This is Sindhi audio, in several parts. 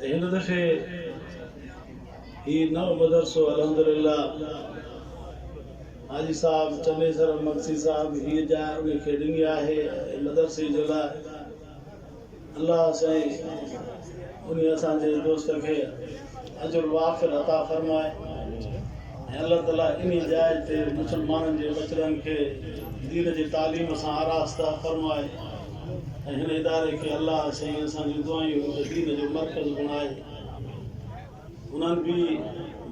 هن دفعي هي نئون مدرسو الحمدلله حاجي صاحب چنيسر امنسي صاحب هيء جاء انهي کي ڏني آهي ۽ مدرسي جي لاء الله سائين انهي اسان جي دوست کي اجر وافر عطا فرمائي ۽ الله تعالي انهي جاء تي مسلمانن جي ٻچڙن کي دين جي تعليم سان آراسته فرمائي. ۽ هن اداري کي الله سائين اسان جون دعائون هڪ دين جو مرڪز بڻائي انهن به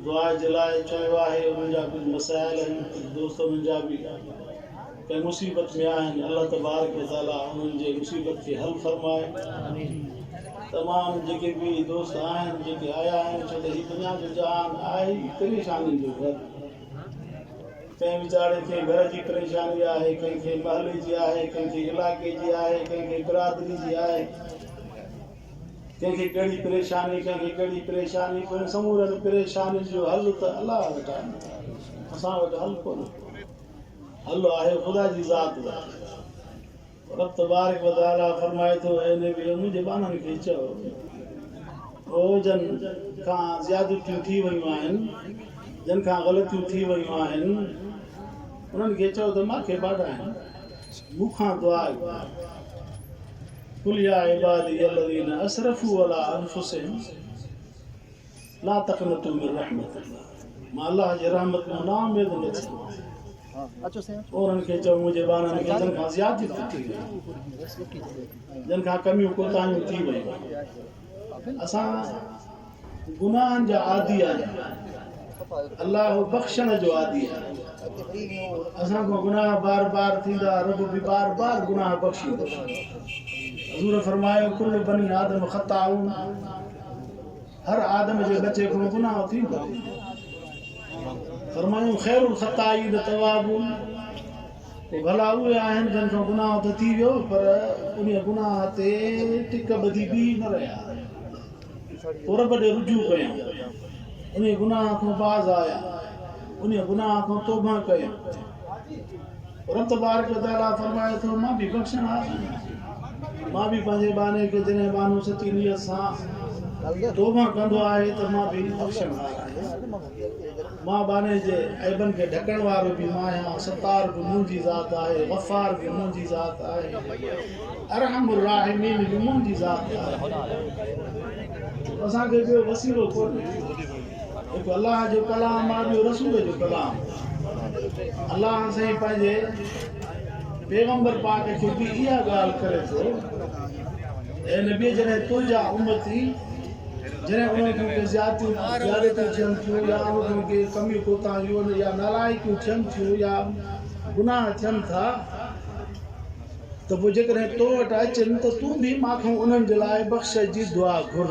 دعا جي لاء چيو آهي انهن جا ڪجهه مسائل آهن ڪجهه دوست انهن جا به ڪنهن مصيبت ۾ آهن الله تبارڪ وتعاليٰ انهن جي مصيبت کي حل فرمائي تمام جيڪي به دوست آهن جيڪي آيا آهن ڇو ته هي دنيا جو جهان آهي پريشانين جو گهر ڪنهن ويچاري کي گهر جي پريشاني آهي، ڪنهن کي محلي جي آهي، ڪنهن کي علائقي جي آهي، ڪنهن کي برادري جي آهي، ڪنهن کي ڪهڙي پريشاني، ڪنهن کي ڪهڙي پريشاني، پوء ان سمورين پريشانين جو حل ته الله وٽ آهن، اسان وٽ حل ڪونهي ڪو، حل آهي خدا جي ذات وٽ. رب تبارڪ و تعالي فرمائي ٿو، اي نبي! منهنجي ٻانهن کي چئو، هو جن کان زيادتيون ٿي ويون آهن، جن کان غلطيون ٿي ويون آهن، انهن کي چئو ته مان کي ٻاڏائين، مون کان دعا گهرائين. قل يا عبادي الذين اسرفوا علي انفسهم. لا تقنطوا من رحمت الله مان الله جي رحمت مان نااميد نه ٿيو اورن کي چئو منهنجي ٻارن کي جن کان زيادتي ٿي وئي جن کان ڪميون ڪوتاهيون ٿي ويون اسان گناهن جا عادي آهيون الله بخشڻ جو عادي آهي اسان کان گناهه بار بار ٿيندا رب به بار بار گناهه بخشيندو حضور فرمايو ڪل بني آدم خطاون هر آدم جي ٻچي کان گناهه ٿيندو آهي. فرمايون، خير الخطائين التوابون، پوء ڀلا اهي آهن جن کان گناهه ته ٿي ويو پر انهي گناهه تي ٽڪ ٻڌي بيهي نه رهيا پوء رب ڏي رجوع ڪيائون انهي گناهه کان باز آيا انهي گناهه کان توبهه ڪيائون. رب تبارڪ و تعاليٰ فرمائي ٿو، مان به بخشڻ هار آهيان. مان به پنهنجي ٻانهي کي جڏهن ٻانهو سچي نيت سان توبهه ڪندو آهي ته مان به بخشڻ هار آهيان. مان ٻانهي جي عيبن کي ڍڪڻ وارو به مان آهيان. ستار به منهنجي ذات آهي، غفار به منهنجي ذات آهي، ارحم الراحمين به منهنجي ذات آهي. اسان کي ٻيو وسيلو ڪونهي. هڪ الله جو ڪلام آهي ٻيو رسول جو ڪلام الله سائين پنهنجي پيغمبر پاڪ کي به اها ڳالهه ڪري ٿو اي نبي جڏهن تنهنجا امتي جڏهن انهن کي ڪي زيادتيون زيادتيون ٿين ٿيون يا انهن کي ڪي ڪميون ڪوتاهيون يا نالائقيون ٿين ٿيون يا گناهه ٿين ٿا ته پوء جيڪڏهن تو وٽ اچن ته تون به مان کان انهن جي لاء بخش جي دعا گهر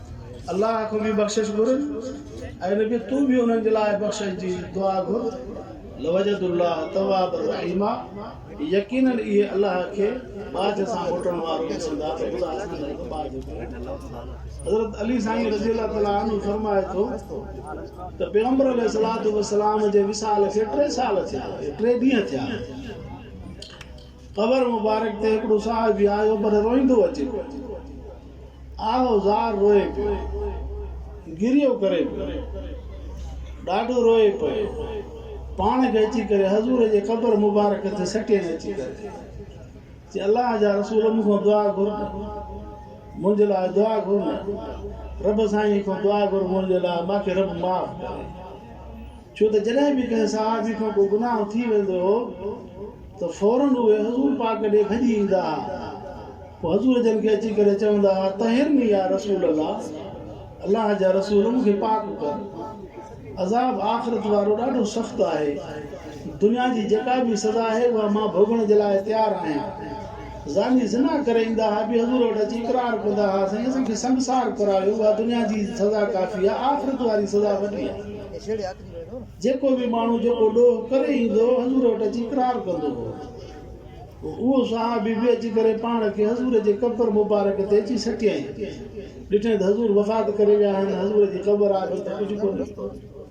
الله کان به بخشش گهر اي نبي تون به انهن جي لاء بخشش جي دعا گهر لوجدوا الله توابا رحيما يقيناً اهي الله کي ٻاجهه سان موٽڻ وارو ڏسندا ته خدا اسان لاء به ٻاجهه ڪري حضرت علي سائين رضي الله تعالٰي عنه فرمائي ٿو ته پيغمبر عليه الصلوة والسلام جي وصال کي ٽي سال ٿيا ٽي ڏينهن ٿيا قبر مبارڪ تي هڪڙو صحابي آيو پر روئيندو اچي آهه و زار روئي پيو گريو ڪري پيو ڏاڍو روئي پيو پاڻ کي اچي ڪري حضور جي قبر مبارڪ تي سٽين اچي ڪري چي الله جا رسول مون کان دعا گهر منهنجي لاء دعا گهر نه رب سائين کان دعا گهر منهنجي لاء ماکي رب معاف ڪري ڇو ته جڏهن به ڪنهن صحابي کان ڪو گناهه ٿي ويندو هو ته فوراً اهي حضور پاڪ ڏي ڀڄي ايندا ها پوء حضور جن کي اچي ڪري چوندا ها طهرني يا رسول الله الله جا رسول مون کي پاڪ ڪر عذاب آخرت وارو ڏاڍو سخت آهي دنيا جي جيڪا به سزا آهي اها مان ڀوڳڻ جي لاء تيار آهيان. زاني زنا ڪري ايندا ها به حضور وٽ اچي اقرار ڪندا ها سائين اسان کي سنگسار ڪرايو اها دنيا جي سزا ڪافي آهي آخرت واري سزا وڏي آهي جيڪو به ماڻهو جيڪو ڏوهه ڪري ايندو هو حضور وٽ اچي اقرار ڪندو هو پوء اهو صحابي به اچي ڪري پاڻ کي حضور جي قبر مبارڪ تي اچي سٽيائين ڏٺائين ته حضور وفات ڪري ويا آهن حضور جي قبر آڏو ته ڪجهه ڪونهي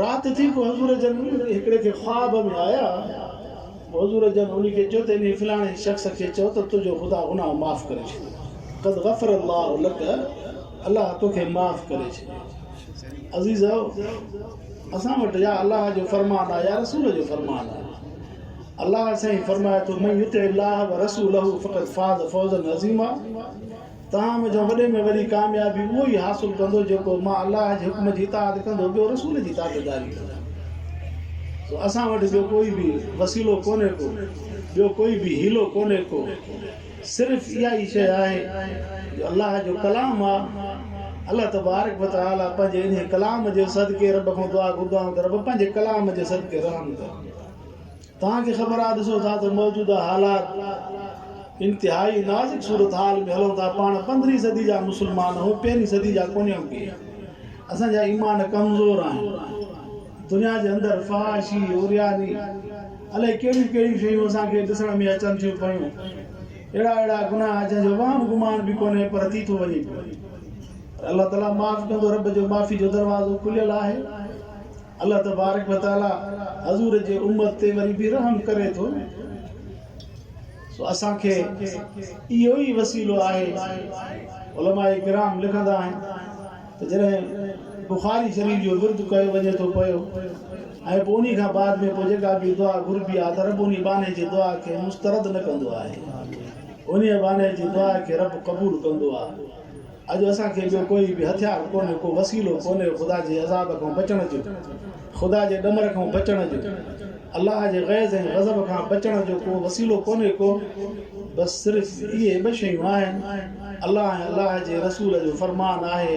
رات ٿي پوء حضور جن هڪڙي کي خواب ۾ آيا پوء حضور جن انهي کي چيو ته انهي فلاڻي شخص کي چئو ته تنهنجو خدا گناهه معاف ڪري ڇڏيو قد غفر الله لڪ الله توکي معاف ڪري ڇڏيو عزيزؤ اسان وٽ يا الله جو فرمان آهي يا رسول جو فرمان آهي الله سائين فرمائي ٿو من يطع الله ورسوله فقد فاز فوزا عظيما تاهم جو وڏي ۾ وڏي ڪاميابي اهو ئي حاصل ڪندو جيڪو مان الله جي حڪم جي اطاعت ڪندو ٻيو رسول جي تابعداري ڪندو سو اسان وٽ ٻيو ڪوئي به وسيلو ڪونهي ڪو ٻيو ڪوئي به حيلو ڪونهي ڪو صرف اها ئي شيء آهي جو الله جو ڪلام آ الله تبارڪ و تعالي پنهنجي انهي ڪلام جي صدقي رب کان دعا گهردا آهيون ته رب پنهنجي ڪلام جي صدقي رحم ڪر توهان کي خبر آهي ڏسو ٿا ته موجوده حالات انتهائي نازڪ صورتحال ۾ هلون ٿا پاڻ پندرهين صدي جا مسلمان آهون پهرين صدي جا ڪونهيون ڪي اسان جا ايمان ڪمزور آهن دنيا جي اندر فحاشي عرياني الائي ڪهڙيون ڪهڙيون شيون اسان کي ڏسڻ ۾ اچن ٿيون پيون اهڙا اهڙا گناهه جنهن جو وهم گمان به ڪونهي پر ٿي ٿو وڃي پيو الله تعاليٰ معاف ڪندو رب جو معافي جو دروازو کليل آهي الله تبارڪ و تعالي حضور جي امت تي وري به رحم ڪري ٿو سو اسان کي اهو ئي وسيلو آهي علماء ڪرام لکندا آهن ته جڏهن بخاري شريف جو ورد ڪيو وڃي ٿو پيو ۽ پوء انهي کان بعد ۾ پوء جيڪا به دعا گهربي آهي ته رب انهي ٻانهي جي دعا کي مسترد نه ڪندو آهي انهي ٻانهي جي دعا کي رب قبول ڪندو آهي اڄ اسان کي ٻيو ڪوئي به هٿيار ڪونهي، ڪو وسيلو ڪونهي خدا جي عذاب کان بچڻ جو، خدا جي ڏمر کان بچڻ جو، الله جي غيظ ۽ غضب کان بچڻ جو ڪو وسيلو ڪونهي ڪو، بس صرف اهي ٻه شيون آهن، الله ۽ الله جي رسول جو فرمان آهي،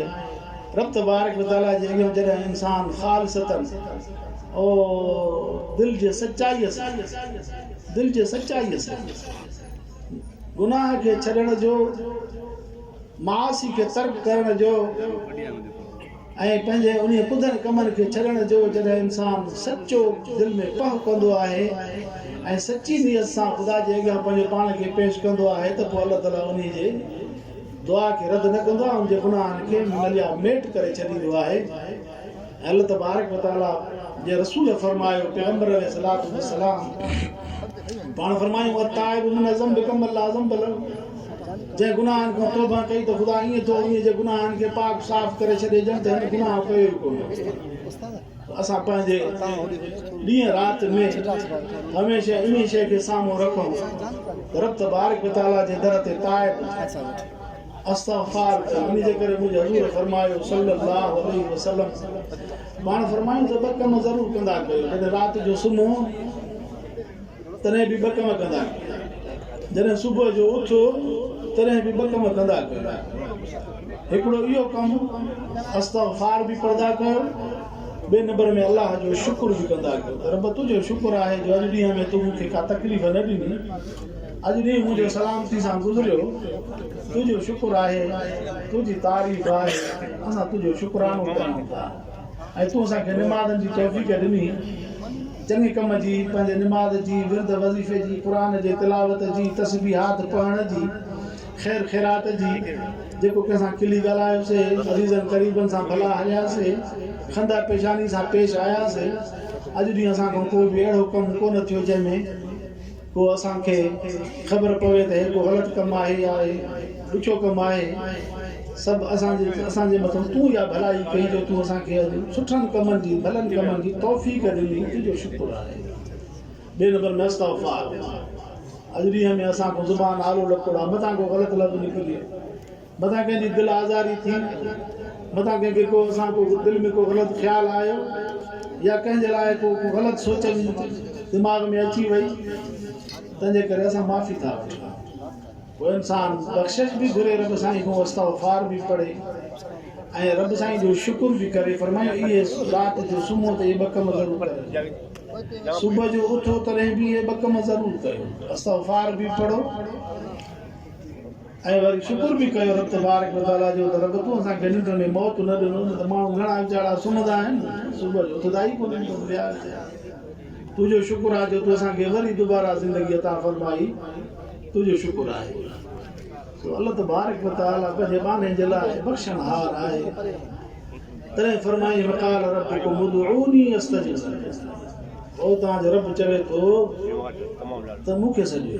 رب تبارڪ و تعاليٰ جي اڳيان جڏهن انسان خالصتاً او دل جي سچائيء سان، دل جي سچائيء سان گناهه کي ڇڏڻ جو، معاصي کي ترڪ ڪرڻ جو ۽ پنهنجي انهي ڪڌن ڪمن کي ڇڏڻ جو جڏهن انسان سچو دل ۾ پهه ڪندو آهي ۽ سچي نيت سان خدا جي اڳيان پنهنجي پاڻ کي پيش ڪندو آهي ته پوء الله تعالي انهي جي دعا کي رد نه ڪندو آهي ان جي گناهن کي مليا ميٽ ڪري ڇڏيندو آهي الله تبارڪ و تعاليٰ جي رسول فرمايو، پيغمبر عليه الصلوة والسلام پاڻ فرمايو، التائب من الذنب ڪمن لا ذنب له، جنهن گناهن کان توبه ڪئي ته خدا ائين ٿو انهيء جي گناهن کي پاڪ صاف ڪري ڇڏي ڄڻ ته هن گناهه ڪيو ئي ڪونه. اسان پنهنجي ڏينهن رات ۾ هميشه انهيء شيء کي سامهون رکون ته رب تبارڪ و تعاليٰ جي در تي تائب، استغفار ڪر انهي جي ڪري منهنجي حضور فرمايو صلّي اللّٰه عليه وسلّم پاڻ فرمايون ته ٻه ڪم ضرور ڪندا ڪيو جڏهن رات جو سمهو تڏهن به ٻه ڪم ڪندا ڪيو جڏهن صبح جو اٿو تڏهن به ٻه ڪم ڪندا ڪيو هڪڙو اهو ڪم استغفار به پڙهندا ڪيو ٻي نمبر ۾ الله جو شڪر به ڪندا ڪيو ته رب تنهنجو شڪر آهي جو اڄ ڏينهن ۾ تون مون کي ڪا تڪليف نه ڏني اڄ ڏينهن منهنجو سلامتي سان گذريو تنهنجو شڪر آهي تنهنجي تعريف آهي اسان تنهنجو شڪرانو ڪريون ٿا ۽ تون اسان کي نمازن جي توفيق ڏني چڱي ڪم جي پنهنجي نماز جي ورد وظيفي جي قرآن جي تلاوت جي تسبيحات پڙهڻ جي خير خيرات جي جيڪو ڪنهن سان کلي ڳالهايوسي عزيزن قريبن سان ڀلا هلياسي خندا پيشاني سان پيش آياسي اڄ ڏينهن اسان کان ڪو به اهڙو ڪم ڪونه ٿيو جنهن ۾ پوء اسان کي خبر پوي ته هي ڪو غلط ڪم آهي يا هي ڏکيو ڪم آهي. سڀ اسان جي اسان جي مٿان تون اها ڀلائي ڪئي جو تون اسان کي اڄ سٺن ڪمن جي ڀلن ڪمن جي توفيق ڏني تنهنجو شڪر آهي. ٻئي نمبر ۾ استغفار اڄ ڏينهن ۾ اسان کان زبان آلو لڪوڙا مٿان ڪو غلط لفظ نڪري متان ڪنهن جي دل آزاري ٿي، متان ڪنهن کي ڪو اسان ڪو دل ۾ ڪو غلط خيال آيو يا ڪنهن جي لاء ڪو غلط سوچ دماغ ۾ اچي وئي تنهن جي ڪري اسان معافي ٿا وٺون ڪو انسان بخشش به گهري رب سائين کان استغفار به پڙهي ۽ رب سائين جو شڪر به ڪري فرمايو اهي رات جو سمهو ته اهي ٻه ڪم ضرور ڪريو صبح جو اٿو تڏهن به اهي ٻه ڪم ضرور ڪيو استغفار به پڙهو ۽ وري شڪر به ڪيو رب تبارڪ و تعاليٰ جو ته رب تون اسان کي ننڊ ۾ موت نه ڏنو نه ته ماڻهو گهڻا ويچارا سمهندا آهن صبح جو اٿندا ئي ڪونهن بس ويا ويچارا تنهنجو شڪر آهي جو تون اسان کي وري دوباره زندگي عطا فرمائي تنهنجو شڪر آهي سو الله تبارڪ و تعاليٰ پنهنجي ٻانهن جي لاء بخشڻهار آهي تڏهن فرمائي وقال ربكم ادعوني استجب لكم او توهان جو رب چوي ٿو ته مون کي سڏيو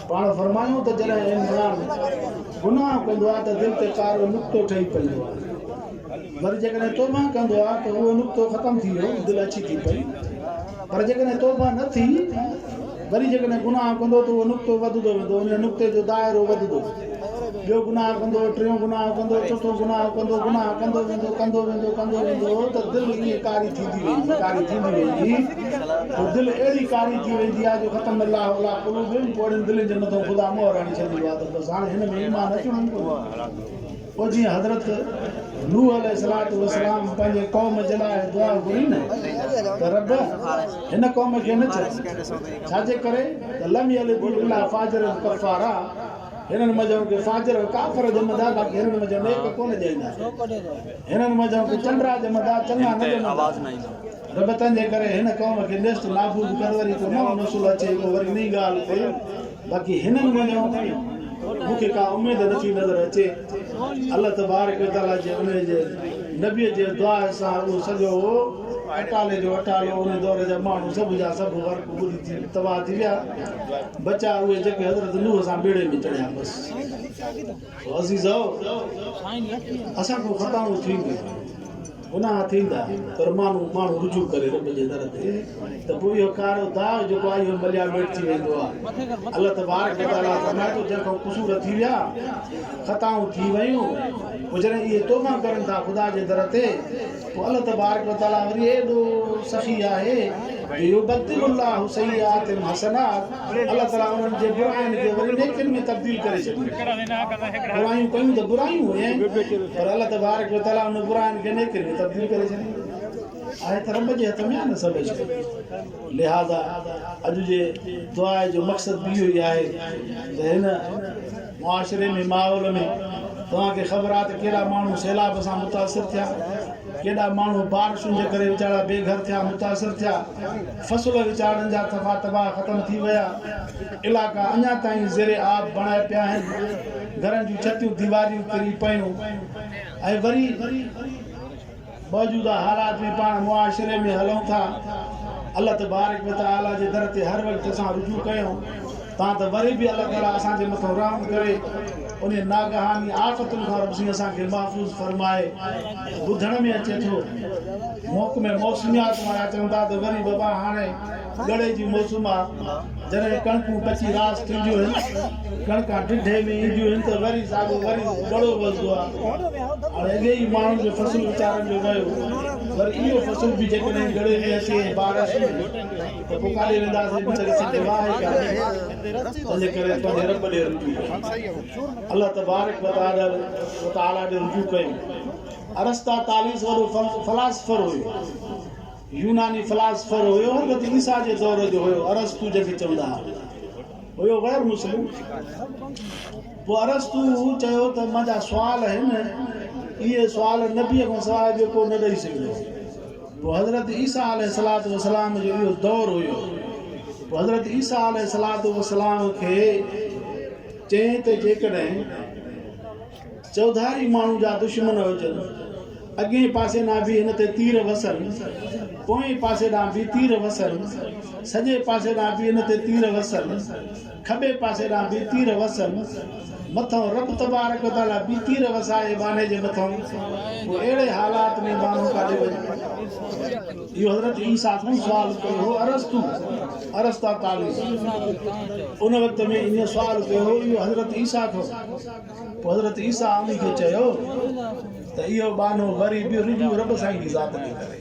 پاڻ فرمايو ته جڏهن انسان گناهه ڪندو آهي ته دل تي ڪارو نقطو ٺهي پوندو آهي وري جيڪڏهن توبه ڪندو آهي ته اهو نقطو ختم ٿي ويو دل اڇي ٿي پئي پر جيڪڏهن توبه نه ٿي وري جيڪڏهن گناهه ڪندو ته اهو نقطو وڌندو ويندو ان نقطي جو دائرو وڌندو ٻيو گناهه ڪندو ٽيون گناهه ڪندو چوٿون گناهه ڪندو گناهه ڪندو ويندو ڪندو ويندو ڪندو ويندو ته دل ائين ڪاري ٿيندي ويندي ڪاري ٿيندي ويندي جو دل اهڙي ڪاري ٿي ويندي آهي جو ختم الله علي قلوبهم پوء اهڙين دلين جي مٿان خدا مهر هڻي ڇڏيندو آهي ته بس هاڻي هن ۾ ايمان اچڻو ئي ڪونهي پوء جيئن حضرت نوح عليه الصلات والسلام پنهنجي قوم جي لاء دعا گهري نه ته رب هن قوم کي نه ڇڏ ڇا جي ڪري ته لم يلد الا فاجر ڪفارا هنن منجهان ڪي فاجر ۽ ڪافر ڄمندا باقي هنن منجهان نيڪ ڪونه ڄائيندا هنن منجهان ڪي چنڊرا ڄمندا چڱا نه ڄمندا رب تنهنجي ڪري هن قوم کي نيست نابود ڪر وري ٿو نه نسل اچي پوء وري انهي ڳالهه تي باقي هنن وڃڻ تائين مون کي ڪا اميد نه ٿي نظر اچي الله تبارڪ و تعالي جي انهي جي نبي جي دعا سان اهو سڄو اٽالي جو اٽالو انهي دور جا ماڻهو سڀ جا سڀ غرق ٻڏي ٿي تباهه ٿي ويا بچا اهي جيڪي حضرت نوح سان ٻيڙي ۾ چڙهيا بس عزيزؤ! اسان کان خطائون ٿينديون آهن، گناهه ٿيندا، پر مانو ماڻهو رجوع ڪري رب جي در تي ته پوء اهو ڪارو داغ جيڪو آهي اهو مليا ميٽ ٿي ويندو آهي. الله تبارڪ و تعاليٰ فرمائي ٿو، جنهن کان قصور ٿي ويا، خطائون ٿي ويون، پوء جڏهن اهي توبه ڪرن ٿا خدا جي در تي، پوء الله تبارڪ و تعالي وري ايڏو سخي آهي جو يبدل الله سيئاتهم حسنات الله تعالي انهن جي براين کي وري نيڪين ۾ تبديل ڪري ڇڏيندو آهي. برايون ڪيون ته برايون هيائين پر الله تبارڪ و تعالي انهن براين کي نيڪين ۾ تبديل ڪري ڇڏيندو آهي ته رب جي هٿ ۾ آهي نه سڀ شيء لهذا اڄ جي دعائي جو مقصد به اهو ئي آهي ته هن معاشري ۾ ماحول ۾ توهان کي خبر آهي ته ڪيڏا ماڻهو سيلاب سان متاثر ٿيا ڪيڏا ماڻهو بارشن جي ڪري ويچارا بي گهر ٿيا متاثر ٿيا فصل ويچارن جا تفا تباهه ختم ٿي ويا علائقا اڃا تائين زير آب بڻايا پيا آهن گهرن جون ڇتيون ديواريون ڪري پيون ۽ وري موجوده حالات ۾ پاڻ معاشري ۾ هلون ٿا. الله تبارڪ و تعاليٰ جي در تي هر وقت اسان رجوع ڪيون ٿا ته وري به الله تعاليٰ اسان جي مٿان رحم ڪري انهن ناگهاني آفتن کان رب سائين اسان کي محفوظ فرمائي. ٻڌڻ ۾ اچي ٿو محڪمه موسميات وارا چون ٿا ته وري وبا هاڻي ڳڙهي جي موسم آ، جڏهن ڪڻڪون پچي راس ٿينديون هن. ڪڻڪان ڍڍي ۾ اينديون هن ته وري ساڳو وري ڳڙهو وسدو آ. هاڻي اڳي ئي ماڻهن جو فصل ويچارن جو ويو، وري اهو فصل به جيڪڏهن ڳڙهي ۾ اچي ۽ بارش ٿيندي ته پوء ڪاڏي وينداسين ويچاري سنڌ واهه ئي ڪانهي. تنهنجي ڪري پنهنجي رب ڏي رجوع ڪيون. الله تبارڪ وتعاليٰ ڏي رجوع ڪيون. ارسطاطاليس وڏو فلاسفر هيو. يوناني فلاسفر هيو هو به عيسيٰ جي دور جو هيو ارسطو جنهن کي چوندا ها هيو غير مسلم پوء ارسطو چيو ته منهنجا سوال آهن اهي سوال نبي کان سواء ٻيو ڪو نه ڏئي سگهندو پوء حضرت عيسيٰ عليه الصلات والسلام جو اهو دور هيو پوء حضرت عيسيٰ عليه الصلات والسلام کي چئين ته جيڪڏهن چوڌاري ماڻهو جا دشمن هجن. اڳئين پاسي ڏانهن به هن تي تير وسن. پوئين پاسي ڏانهن به تير وسن. سڄي پاسي ڏانهن به هن تي تير وسن. کٻي پاسي ڏانهن به تير وسن. مٿئون رب تبارڪ و تعاليٰ به تير وسائي ٻانهي جي مٿئون. پوء اهڙي حالات ۾ ٻانهو ڪاڏي وڃي؟ اهو حضرت عيسيٰ کان سوال ڪيو هو ارسطو، Aristotelis، ان وقت ۾ ايئن سوال ڪيو هو اهو حضرت عيسيٰ کان. پوء حضرت عيسيٰ علي کي چيو ته اهو ٻانهو وري به رجوع رب سائين جي ذات ڏي ڪري،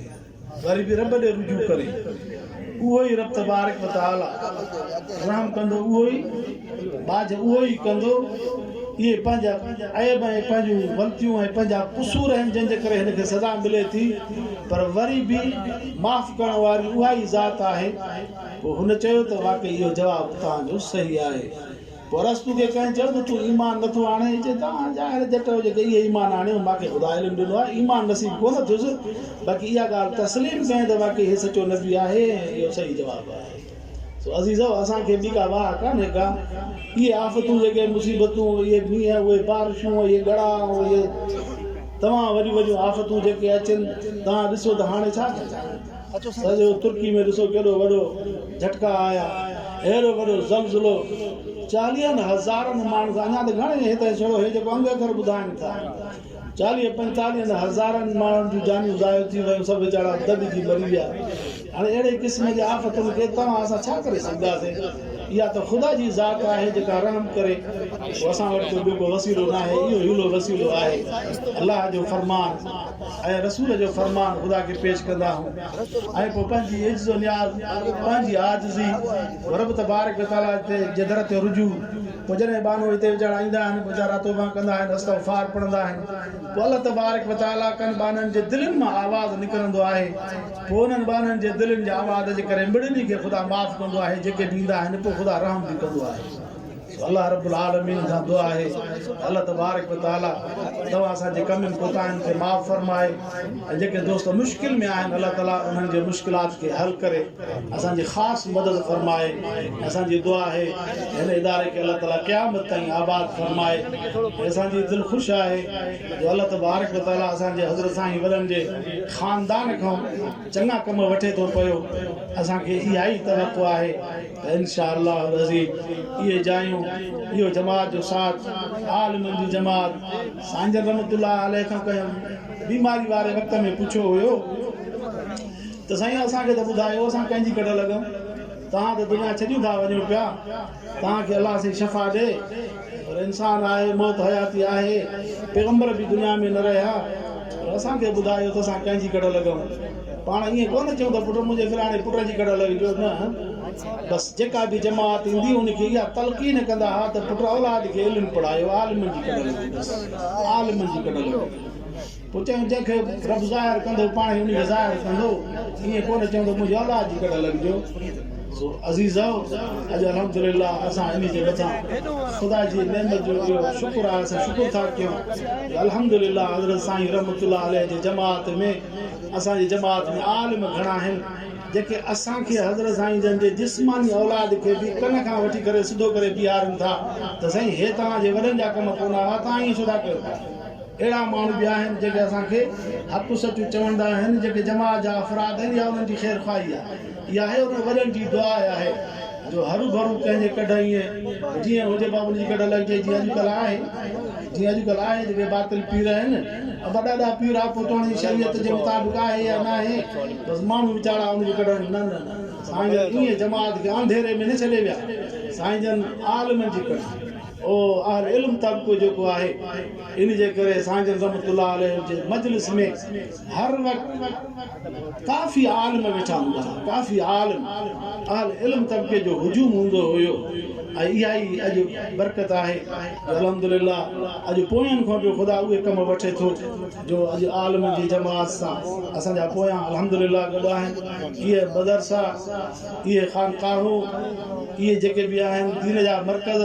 وري به رب ڏي رجوع ڪري، اهو ئي رب تبارڪ و تعالي رحم ڪندو، اهو ئي ٻاجهه اهو ئي ڪندو، اهي پنهنجا عيب ۽ پنهنجون غلطيون ۽ پنهنجا قصور آهن جن جي ڪري هن کي سزا ملي ٿي، پر وري به معاف ڪرڻ واري اها ئي ذات آهي، پوء هن چيو ته واقعي اهو جواب توهان جو صحيح آهي. پوء ارسطو کي ڪنهن چيو ته تون ايمان نٿو آڻين؟ هي چئي ته آء ظاهر جٽ هجي ڪري ئي ايمان آڻيو، مان کي خدا علم ڏنو آهي، ايمان نصيب ڪونه ٿيس، باقي اها ڳالهه تسليم ڪيائين ته واقعي هي سچو نبي آهي ۽ اهو صحيح جواب آهي. سو عزيزؤ! اسان کي به ڪا واهه ڪانهي ڪا. اهي آفتون، جيڪي مصيبتون، اهي مينهن، اهي بارشون، اهي ڳڙا ۽ اهي تمام وڏيون وڏيون آفتون جيڪي اچن، توهان ڏسو ته هاڻي ڇا ڪجي؟ سڄو ترڪي ۾ ڏسو ڪيڏو وڏو جهٽڪا آيا اهڙو وڏو زلزلو چاليهن هزارن ماڻهن سان اڃا ته گهڻي هي ته ڇڙو هي جيڪو انگ اکر ٻڌائين ٿا چاليهه پنجتاليهن هزارن ماڻهن جون جانيون ضايع ٿي ويون سڀ ويچارا دٻجي مري ويا هاڻي اهڙي قسم جي آفتن کي توهان اسان ڇا ڪري سگهنداسين اها ته خدا جي ذات آهي جيڪا رحم ڪري پوء اسان وٽ ته ٻيو ڪو وسيلو ناهي اهو هيلو وسيلو آهي الله جو فرمان ۽ رسول جو فرمان خدا کي پيش ڪندا هئون ۽ پوء پنهنجي عجز و نياز، پنهنجي عاجزي، رب تبارڪ و تعاليٰ تي جي در تي رجوع، پوء جڏهن ٻانهو هتي وجهڻ ايندا آهن پوء ويچارا توبه ڪندا آهن استغفار پڙهندا آهن پوء الله تبارڪ و تعاليٰ ڪن ٻانهن جي دلين مان آواز نڪرندو آهي پوء انهن ٻانهن جي دلين جي آواز جي ڪري مڙني کي خدا معاف ڪندو آهي جيڪي به ايندا آهن پوء خدا رحم به ڪندو آهي. الله رب العالمين کان دعا آهي ته الله تبارڪ و تعالي توهان اسان جي ڪمين ڪوتاهين کي معاف فرمائي ۽ جيڪي دوست مشڪل ۾ آهن الله تعالي انهن جي مشڪلات کي حل ڪري اسان جي خاص مدد فرمائي ۽ اسان جي دعا آهي ته هن اداري کي الله تعالي قيامت تائين آباد فرمائي ۽ اسان جي دل خوش آهي جو الله تبارڪ و تعالي اسان جي حضرت سائين وڏن جي خاندان کان چڱا ڪم وٺي ٿو پيو اسان کي اها ئي توقع آهي انشاء الله العظيم اهي جايون اهو جماعت جو ساٿ عالمن جي جماعت سائين جن رحمت الله عليه کان ڪنهن بيماري واري وقت ۾ پڇيو هيو ته سائين اسان کي ته ٻڌايو اسان ڪنهن جي ڪڍ لڳون توهان ته دنيا ڇڏيون ٿا وڃو پيا توهان کي الله سائين شفا ڏي پر انسان آهي موت حياتي آهي پيغمبر به دنيا ۾ نه رهيا پر اسان کي ٻڌايو ته اسان ڪنهنجي ڪڍ لڳون پاڻ ايئن ڪونه چئون ته پٽ منهنجي فلاڻي پٽ جي ڪڍ لڳجو نه بس جيڪا به جماعت ايندي ان کي اها تلقين ڪندا ها ته پٽ اولاد کي علم پڙهايو عالمن جي ڪڍ لڳو بس عالمن جي ڪڍ لڳو پوء چيائون، جنهن کي رب ظاهر ڪندو، پاڻ ئي انهي کي ظاهر ڪندو. ائين ڪونه چوندو، منهنجي اولاد جي ڪڍ لڳجو. سو عزيزؤ! اڄ الحمد لله اسان انهي جي مٿان خدا جي نعمت جو اهو شڪر آهي، اسان شڪر ٿا ڪيون ته الحمد لله حضرت سائين رحمة الله عليه جي جماعت ۾، اسان جي جماعت ۾ عالم گهڻا آهن، جيڪي اسان کي حضرت سائين جن جي جسماني اولاد کي به ڪن کان وٺي ڪري سڌو ڪري بيهارن ٿا ته سائين هي توهان جي وڏن جا ڪم ڪونه هئا، توهان ائين ڇو ٿا ڪيو؟ اهڙا ماڻهو به آهن جيڪي اسان کي هپون سچون چوندا آهن جيڪي جماعت جا افراد آهن يا انهن جي خيرخواهي آهي اها هي انهن وڏن جي دعا آهي جو هروڀرو ڪنهن جي ڪڍ ائين جيئن هجي بابا ان جي ڪڍ لڳجي جيئن اڄڪلهه آهي جيئن اڄڪلهه آهي جيڪي باطل پير آهن وڏاڏا پير هپو توڻي شريعت جي مطابق آهي يا ناهي بس ماڻهو ويچارا ان جي ڪڍ نه نه نه سائين جن ائين جماعت کي انڌيري ۾ نه ڇڏي ويا سائين جن عالمن جي ڪڍ او اهل علم طبقو جيڪو آهي ان جي ڪري سانجن رحمة الله عليه جي مجلس ۾ هر وقت ڪافي عالم ويٺا هوندا هئا ڪافي عالم اهل علم طبقي جو هجوم هوندو هيو ۽ اها ئي اڄ برڪت آهي جو الحمد لله اڄ پوين کان به خدا اهي ڪم وٺي ٿو جو اڄ عالمن جي جماعت سان اسان جا پويان الحمد لله گڏ آهن اهي مدرسا اهي خانقاهون، اهي جيڪي به آهن دين جا مرڪز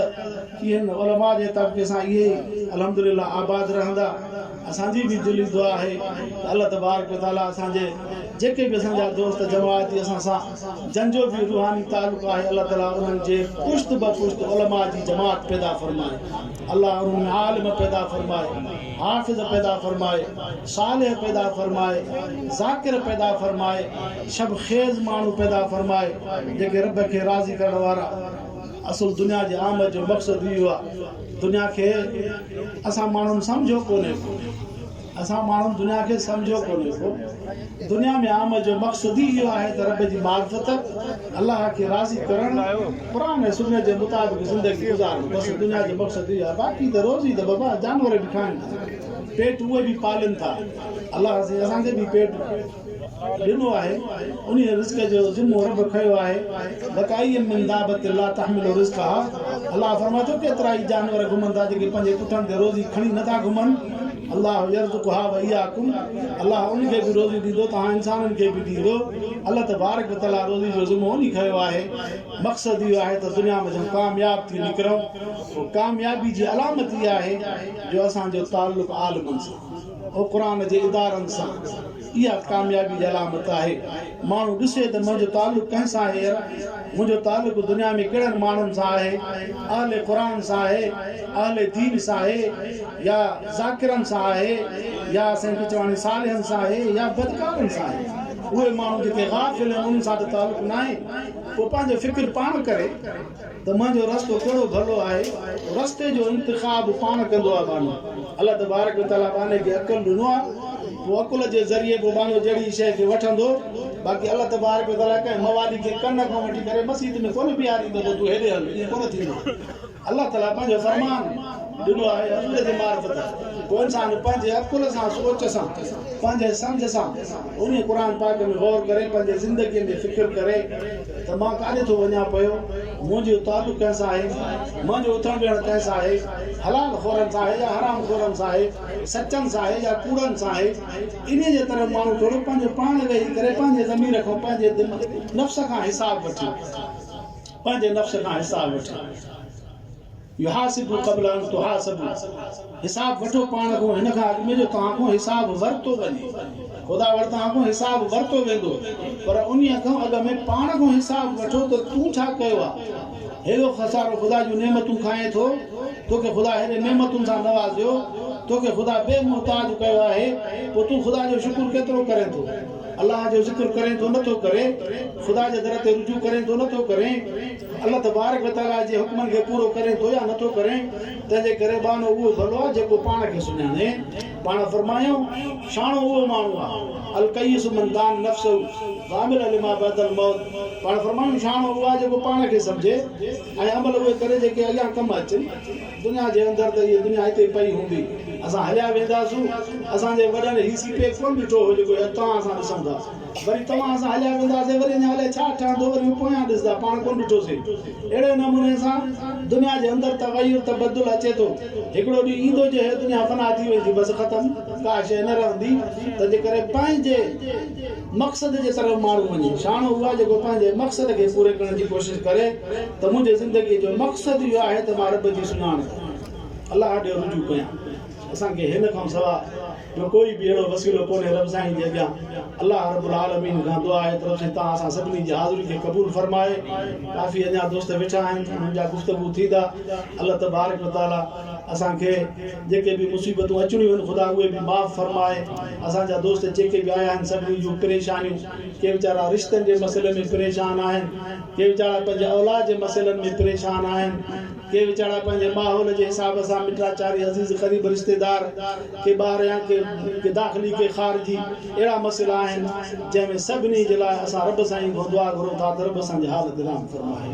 ٿي هن علماء جي طبقي سان اهي ئي الحمد لله آباد رهندا. اسان جي به دلي دعا آهي ته الله تبارڪ و تعالي اسان جي جيڪي به اسان جا دوست جماعتي اسان سان جن جو به روحاني تعلق آهي الله تعالي انهن جي پشت به پشت علماء جي جماعت پيدا فرمائي. الله انهن ۾ عالم پيدا فرمائي، حافظ پيدا فرمائي، صالح پيدا فرمائي، ذاڪر پيدا فرمائي، شب خيز ماڻهو پيدا فرمائي جيڪي رب کي راضي ڪرڻ وارا اصل دنيا جي آمد جو مقصد اهو آهي دنيا کي اسان ماڻهن سمجهيو ڪونهي ڪو. اسان ماڻهن دنيا کي سمجهيو ڪونهي ڪو. دنيا ۾ آمد جو مقصد ئي اهو آهي ته رب جي معرفت، الله کي راضي ڪرڻ، قرآن ۽ سنت جي مطابق زندگي گذارڻ. بس دنيا جو مقصد اهو آهي. باقي ته روزي ته بابا جانور به کائن ٿا، پيٽ اهي به پالين ٿا. الله سائين اسان کي به پيٽ. ڏنو آهي، انهيء رزق جو ذمو رب کنيو آهي، وڪائين من دابة لا تحمل رزقها، الله فرمائي ٿو، ڪيترائي جانور گهمن ٿا جيڪي پنهنجي پٺن تي روزي کڻي نه ٿا گهمن، الله يرزقها واياڪم، الله انهن کي به روزي ڏيندو توهان انسانن کي به ڏيندو، الله تبارڪ وتعاليٰ روزي جو ذمو انهي کنيو آهي، مقصد اهو آهي ته دنيا ۾ جون ڪامياب ٿي نڪرون، ڪاميابي جي علامت اها آهي جو اسان جو تعلق عالمن سان. حڪران جي ادارن سان اها ڪاميابي جي علامت آهي. ماڻهو ڏسي ته منهنجو تعلق ڪنهن سان آهي ير؟ منهنجو تعلق دنيا ۾ ڪهڙن ماڻهن سان آهي؟ اهل قرآن سان آهي؟ اهل دين سان آهي؟ يا ذاڪرن سان آهي؟ يا سائين پچواڻي صالحن سان آهي؟ يا بدڪارن سان آهي؟ اهي ماڻهو جيڪي غافل آهن انهن سان ته تعلق ناهي. اهو پنهنجو فڪر پاڻ ڪري. ته منهنجو رستو ڪهڙو ڀلو آهي، رستي جو انتخاب پاڻ ڪندو آهي ٻانهو. الله تبارڪ و تعاليٰ ٻانهي کي عقل ڏنو آهي، پوء عقل جي ذريعي پوء ٻانهو جهڙي ئي شيء کي وٺندو، باقي الله تبارڪ و تعاليٰ ڪنهن موالي کي ڪن کان وٺي ڪري مسيت ۾ ڪونه بيهاريندو ته تون هيڏي هل، ائين ڪونه ٿيندو. الله تعاليٰ پنهنجو فرمان ڏنو آهي حضور جي معرفت، پوء انسان پنهنجي عقل سان، سوچ سان، پنهنجي سمجهه سان انهيء قرآن پاڪ ۾ غور ڪري، پنهنجي زندگيء ۾ فڪر ڪري، ته مان ڪاڏي ٿو وڃان پيو، منهنجو تعلق ڪنهن سان آهي، منهنجو اٿڻ ويهڻ ڪنهن سان آهي، حلال خورن سان آهي يا حرام خورن سان آهي، سچن سان آهي يا ڪوڙن سان آهي، انهيء جي طرف ماڻهو ٿورو پنهنجو پاڻ ويهي ڪري پنهنجي ضمير کان پنهنجي نفس کان حساب وٺي، پنهنجي نفس کان حساب وٺي. يحاسبوا قبل ان تحاسبوا حساب وٺو پاڻ کان هن کان اڳ ۾ جو توهان کان حساب ورتو وڃي. خدا وٽ توهان کان حساب ورتو ويندو پر انهي کان اڳ ۾ پاڻ کان حساب وٺو ته تون ڇا ڪيو آ؟ هيڏو سارو خدا جون نعمتون کائين ٿو، توکي خدا هيڏين نعمتن سان نوازيو، توکي خدا بي محتاج ڪيو آهي، پوء تون خدا جو شڪر ڪيترو ڪرين ٿو؟ الله جو ذڪر ڪرين ٿو نه ٿو ڪرين، خدا جي در تي رجوع ڪرين ٿو نه ٿو ڪرين. الله تبارڪ و تعاليٰ جي حڪمن کي پورو ڪرين ٿو يا نٿو ڪرين، تنهن جي ڪري ٻانهو اهو ڀلو آهي جيڪو پاڻ کي سڃاڻي. پاڻ فرمايائون، شاڻو اهو ماڻهو آهي، الڪيس من دان نفسه وعمل لما بعد الموت، پاڻ فرمايائون، شاڻو اهو آهي جيڪو پاڻ کي سمجهي ۽ عمل اهي ڪري جيڪي اڳيان ڪم اچن. دنيا جي اندر ته هيء دنيا هتي پئي هوندي، اسان هليا وينداسون، اسان جي وڏن هي سي پيڪ ڪونه ڏٺو هو جيڪو هي توهان اسان ڏسون ٿا. وري توهان سان هليا وينداسين، وري اڃا الائي ڇا ٺهندو، وري اهو پويان ڏسندا، پاڻ ڪونه ڏٺوسين. اهڙي نموني سان دنيا جي اندر تغير، تبدل، اچي ٿو. هڪڙو ڏينهن ايندو جو هيء دنيا فنا ٿي ويندي، بس ختم، ڪا شيء نه رهندي. تنهنجي ڪري پنهنجي مقصد جي طرف ماڻهو وڃي. شاڻو اهو آهي جيڪو پنهنجي مقصد کي پوري ڪرڻ جي ڪوشش ڪري ته منهنجي زندگيء جو مقصد اهو آهي ته مان رب جي سڃاڻپ الله ڏي رجوع ڪيان. اسان کي هن کان سوا ٻيو ڪوئي به اهڙو وسيلو ڪونهي رب سائين جي اڳيان الله رب العالمين کان دعا آهي ته رب سائين تان اسان سڀني جي حاضري کي قبول فرمائي ڪافي اڃان دوست ويٺا آهن انهن جا گفتگو ٿيندا الله تبارڪ و تعالي اسان کي جيڪي به مصيبتون اچڻيون آهن خدا اهي به معاف فرمائي اسان جا دوست جيڪي به آيا آهن سڀني جون پريشانيون ڪي ويچارا رشتن جي مسئلي ۾ پريشان آهن ڪي ويچارا پنهنجي اولاد جي مسئلن ۾ پريشان آهن ڪي ويچارا پنهنجي ماحول جي حساب سان مٽا چاري عزيز قريب رشتيدار ڪي ٻاهريان ڪي داخلي ڪي خارجي اهڙا مسئلا آهن جنهن ۾ سڀني جي لاء اسان رب سائين کان دعا گهرون ٿا ته رب اسان جي حال تي رحم فرمائي.